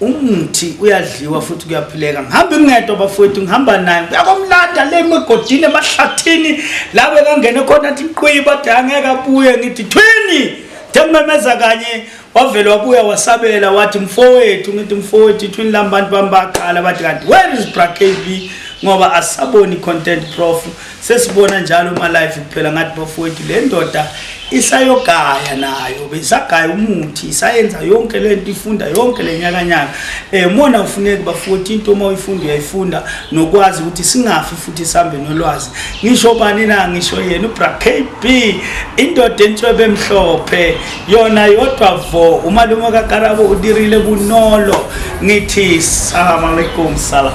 umuthi uyadliwa futhi kuyaphileka ngihambe ngedwa bafowethu ngihamba naye uyakomlanda le emigodini emahlathini la bekangene khona athi qwiyi bathi angeke abuye ngithi thwini njengimmemeza kanye wavele wabuya wasabela wathi mfowethu ngithi mfowethu ithwini lami bantu bami baqala bathi kanti where is brakb ngoba asisaboni content prof sesibona njalo uma life kuphela ngathi bafowethu le ndoda isayogaya nayo besagaya umuthi isayenza yonke le nto ifunda yonke le nyakanyaka um eh, mona ufuneki bafowethu into uma uyifunda uyayifunda nokwazi ukuthi singafi futhi sihambe nolwazi ngisho bani na ngisho yena ubra k b indoda entshwebe emhlophe yona yodwa vo umalume kakarabo udirile bunolo ngithi salamu alaikum salam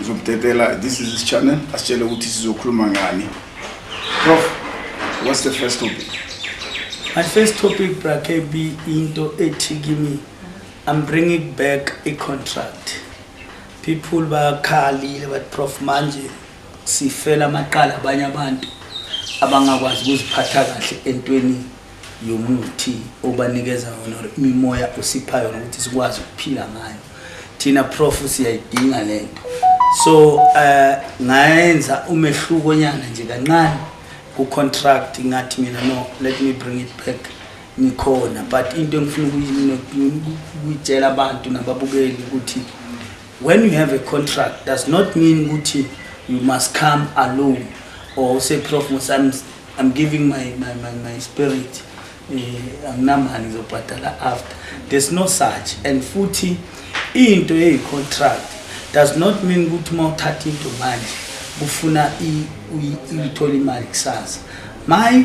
Uzobudedela this is his channel asitshele ukuthi sizokhuluma ngani. Prof what's the first topic? My first topic bra KB into ethi kimi I'm bringing back a contract. People bakhalile but prof manje sifela amaqala abanye abantu abangakwazi ukuziphatha kahle entweni yomuthi obanikeza yona or imimoya osipha yona ukuthi sikwazi ukuphila ngayo thina prof siyayidinga le nto so uh, ngayenza umehluko nyana nje kancane ku-contract ngathi mina no let me bring it back ngikhona but into engifuna ukuyitshela abantu nababukeli ukuthi when you have a contract does not mean ukuthi you must come alone or say prof musami I'm giving my my my, my spirit eh anginamali ngizobhadala after there's no such and futhi into eyi contract does not mean ukuthi uma uthatha into manje kufuna uyithola imali kusasa my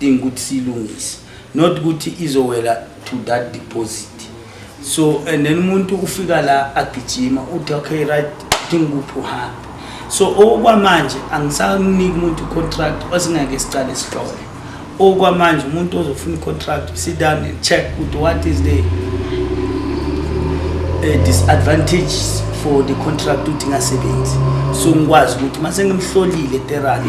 dinga ukuthi silungise not ukuthi izowela to that deposit so and then umuntu ufika la agijima uthi okay right dinga ukuthi uhambe so okwamanje angisaniki umuntu contract osingeke siqale sihlole okwamanje umuntu ozofuna icontract sit down and check ukuthi what is the uh, disadvantages for the contract ukuthi ingasebenzi so ngikwazi ukuthi uma sengimhlolile terani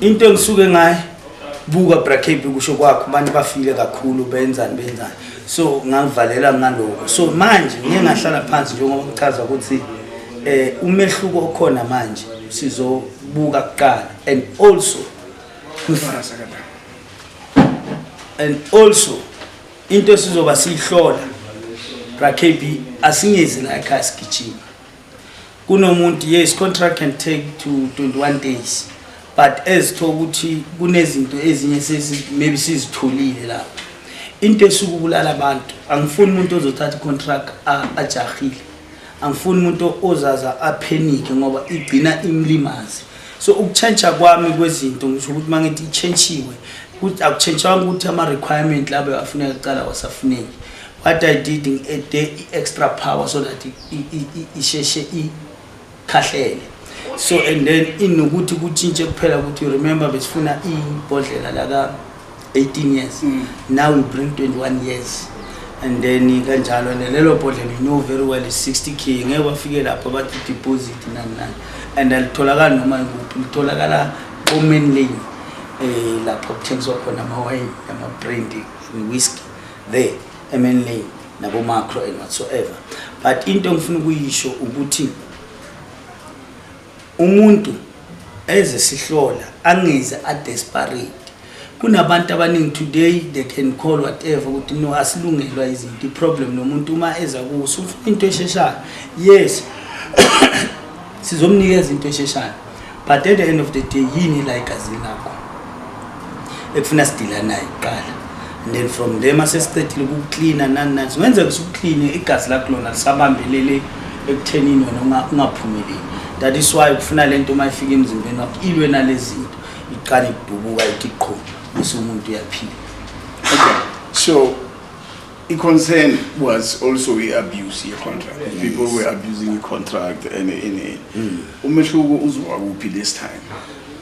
into engisuke ngaye buka bracape kusho kwakho abantu bafile kakhulu benzani benzani so ngangivalela ngaloko so manje ngiye ngahlala phansi njengoba ngichaza ukuthi eh umehluko okhona manje sizobuka kuqala and also and also into esizoba siyihlola bracape asingezi la ekhaya sigijima kunomuntu yes contract can take to 21 days but ezitho ukuthi kunezinto ezinye sesi maybe sizitholile lapho into esuku kulala abantu angifuni umuntu ozothatha icontract ajahile angifuni umuntu ozaza aphenike ngoba igcina imlimazi so ukutshentsha kwami kwezinto ngisho ukuthi uma ngithi itshentshiwe akutshentshanga ukuthi ama-requirement labo afuneka kuqala wasafuneki what i did i-extra power so that isheshe ikhahlele so and then inokuthi kutshintshe kuphela ukuthi you remember besifuna ibhodlela laka 18 years mm. now we bring 21 years and then kanjalo and lelo bhodlela you know very well is 60 k ngeke wafike lapho bathi deposit nani nani and alitholakali noma ikuphi litholakala omen lane um eh, lapho kuthengiswa khona amawayini ama-brandi ne-whisky there MNLA nabo macro and whatsoever but into ngifuna ukuyisho ukuthi umuntu eze sihlola angeze a desperate kunabantu abaningi today they can call whatever ukuthi no asilungelwa izinto iproblem nomuntu uma eza kuso ufuna into esheshayo yes sizomnikeza into esheshayo but at the end of the day yini la igazini lakho ekufuna sidila naye kuqala and then from there mase siqedile ukuklina nani nani singenzeka sikuklini igazi lakho lona lisabambelele ekuthenini wena ungaphumeleli that is why kufuna le nto uma ifika emzimbeni wakho ilwe nalezi zinto iqale idubuka ithi qho bese umuntu uyaphila okay so I-concern was also i-abuse ye-contract. Yes. People were abusing i-contract and NA. Mm. Umehluko uzowa kuphi this time?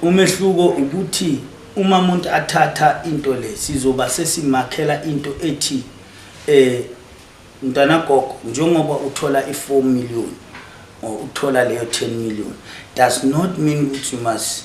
Umehluko ukuthi uma umuntu athatha into le sizoba sesimakhela into ethi eh mntana gogo njengoba uthola i4 million or uthola leyo 10 million does not mean ukuthi you must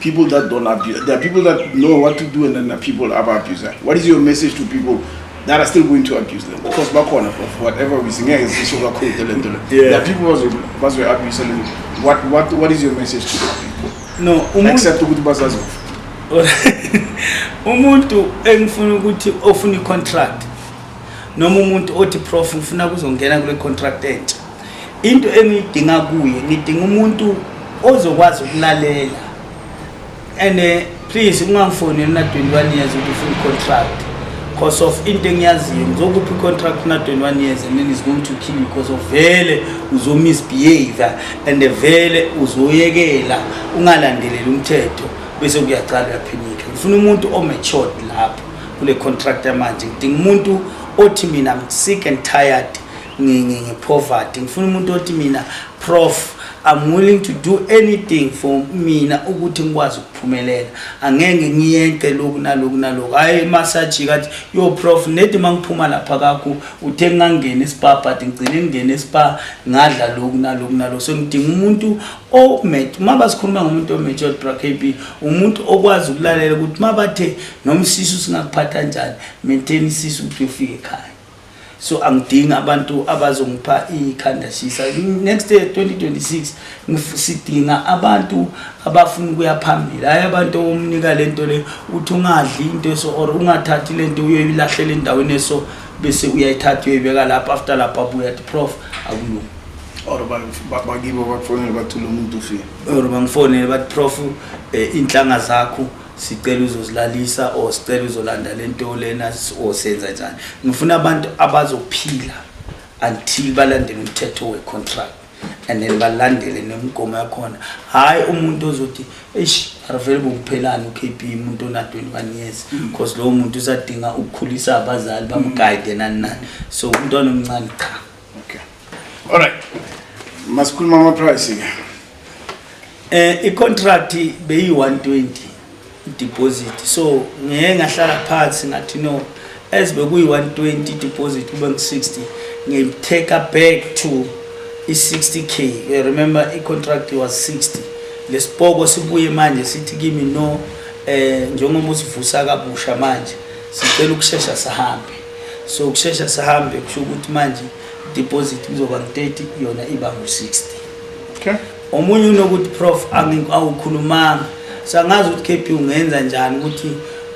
People that don't abuse, there are people that know what to do and then there are people that are abusing. What is your message to people that are still going to abuse them? Of course, bakhona for whatever reason, ngeke sisho kakhulu le nto le. Yeah. There are people bazo bazo abuse le nto. What what what is your message to those people? No, umuntu Except ukuthi basazofa. umuntu engifuna ukuthi ofuna i-contract noma umuntu othi prof ngifuna kuzongena kule contract entsha into engiyidinga kuye ngidinga umuntu ozokwazi ukulalela and eh, please ungangifoneli na 21 years ukuthi full contract because of into engiyaziyo ngizokuphi contract na 21 years and then is going to kill you because of vele uzo misbehave and vele uzoyekela ungalandeleli umthetho bese kuyaqala uyaphinika ngifuna umuntu o matured lapho kule contract manje ngidinga umuntu othi mina I'm sick and tired ngepoverty ngifuna umuntu othi mina prof I'm willing to do anything for mina ukuthi ngikwazi ukuphumelela angeke ngiyenqe lokhu nalokhu nalokhu hayi massage kathi yo prof nedi mangiphuma lapha kakho uthe ngangena ispa but ngigcine ngingena ispa ngadla lokhu nalokhu nalokhu so ngidinga umuntu o met uma basikhuluma ngomuntu omature bra KB umuntu okwazi ukulalela ukuthi mabathe nomsisu singakuphatha kanjani maintain isisu ukuthi ufike ekhaya so angidingi abantu abazongipha ikhanda shisa next year 2026 sidinga abantu abafuna ukuya phambili hayi abantu omnika le nto le uthi ungadli into eso or ungathathi le nto uyoyilahlela endaweni eso bese uyayithatha uyoyibeka lapho after lapho abuya ti prof akulungi or bakibo bakufonele bathi lo muntu ufile or bangifonele bathi prof eh, inhlanga zakho sicela uzozilalisa or sicela uzolanda lento lena or senza njani ngifuna abantu abazophila until balandele umthetho wecontract and then balandele nemigomo yakhona hhayi umuntu ozothi eish arivele bokuphelani ukp umuntu ona-21 years because lowo muntu usadinga ukukhulisa abazali bamgayide nani nani so umntwana omncane cha Okay. All right. Masikhuluma ama price ke. Eh icontract beyi 120 deposit. So ngeke ngahlala phansi ngathi no as bekuyi 120 deposit kube ngi 60 ngi take back to i 60k. I remember i contract was 60. Lesipoko sibuye manje sithi kimi no eh njengoba usivusa kabusha manje sicela ukushesha sihambe so kushesha sihambe kusho ukuthi manje deposit kuzoba ngu-30 yona iba ngu-60 okay. omunye unokuthi prof awukhulumanga sangazi ukuthi kp ungenza njani ukuthi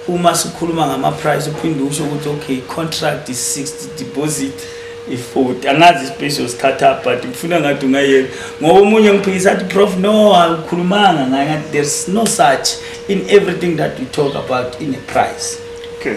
uma sikhuluma ngama-price uphinde usho ukuthi okay contract is 60 deposit i-40 angazi ispace yosikhatha but ngifuna ngathi ungayeka ngoba omunye ngiphikisa athi prof no awukhulumanga ngaye ngathi there's no such in everything that we talk about in a price okay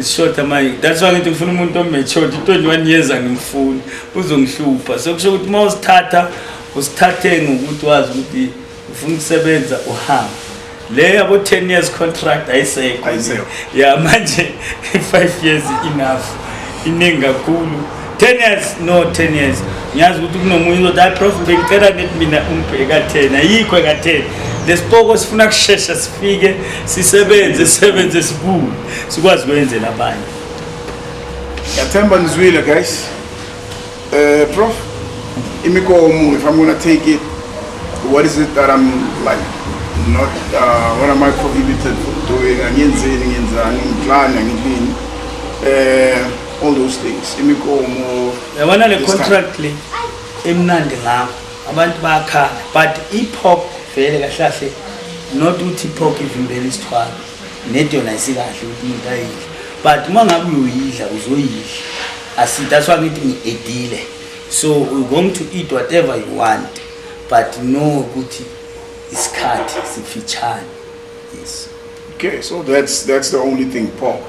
Ishoda manje that's why ngithi ngifuna umuntu ometshoda i-21 years angimfuni uzongihlupha so kusho ukuthi uma usithatha usithathe ngokuthi wazi ukuthi ufuna ukusebenza uhambe le yabo 10 years contract ayisekho ya manje 5 years enough iningi kakhulu 10 years no 10 years ngiyazi ukuthi kunomunye uzothi hayi prof bengicela ngithi mina umbheka 10 ayikho eka 10 lesipoko sifuna kushesha sifike sisebenze sebenze sibuye sikwazi kwenzela abanye yathemba nizwile guys eh prof imikomo if i'm going to take it what is it that i'm like not uh, what am i prohibited from doing angiyenzeni ngiyenzani ngiklani angilini eh all those things imikomo yabona le contract le emnandi ngakho abantu bayakhala but i-pop vele kahle kahle not ukuthi i-pop ivimbela isithwalo nedi yona isikahle ukuthi umuntu ayidle but uma ngabe uyoyidla uzoyidla that's why ngithi ngi-edile so we're going to eat whatever you want but no ukuthi isikhathi sifitshane yes okay so that's that's the only thing pop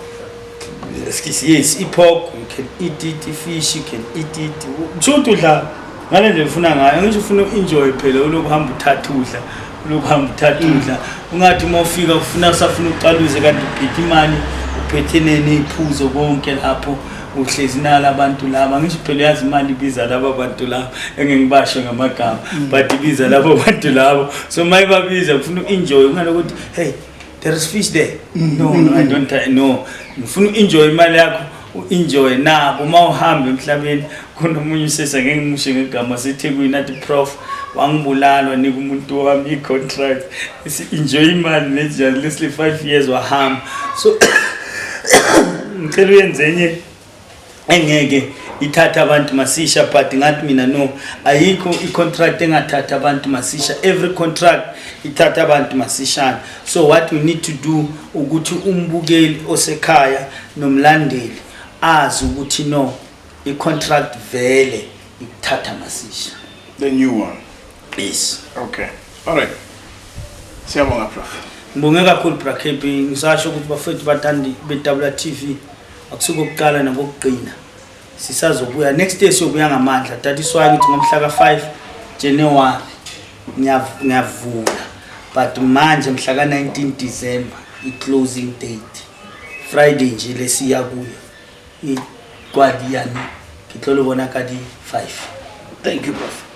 yes ipork you can eat it ifish you can eat it kusho ukuthi udla ngale nje ufuna ngayo ngisho ufuna enjoy phela ulokhu hamba uthatha udla ulokhu hamba uthatha mm. udla ungathi uma ufika ufuna usafuna uqaluze kanti uphethe imali uphethe nene iphuzo konke lapho uhlezi nala abantu laba ngisho phela yazi imali ibiza laba bantu laba engengibasho ngamagama mm. but ibiza laba bantu labo so mayibabiza ufuna uenjoy ungalokuthi hey There is fish there. Mm, no, mm, no, I mm. don't I know. Ngifuna uenjoy imali yakho, uenjoy nabo uma uhamba emhlabeni khona umunye usesa ngeke ngimushe ngegama seThekwini athi prof wangibulala nika umuntu wami i contract. Isi enjoy imali neja lesly 5 years wahamba. So ngicela uyenze enye engeke ithatha abantu masisha but ngathi mina no ayikho icontract engathatha abantu masisha every contract ithatha abantu masishana so what we need to do ukuthi umbukeli osekhaya nomlandeli azi ukuthi no icontract vele ikuthatha masisha the new one yes okay all right siyabonga prof ngibonge kakhulu bra kb ngisasho ukuthi bafethu bathandi be-wtv akusuke okuqala nokokugcina sisazobuya next day siyobuya ngamandla that is why ngithi ngomhla ka-5 january ngiyavula but manje mhla ka-19 december i-closing date friday nje lesiya kuyo ikwadi yani ngitlole bona kadi-5 thank you prof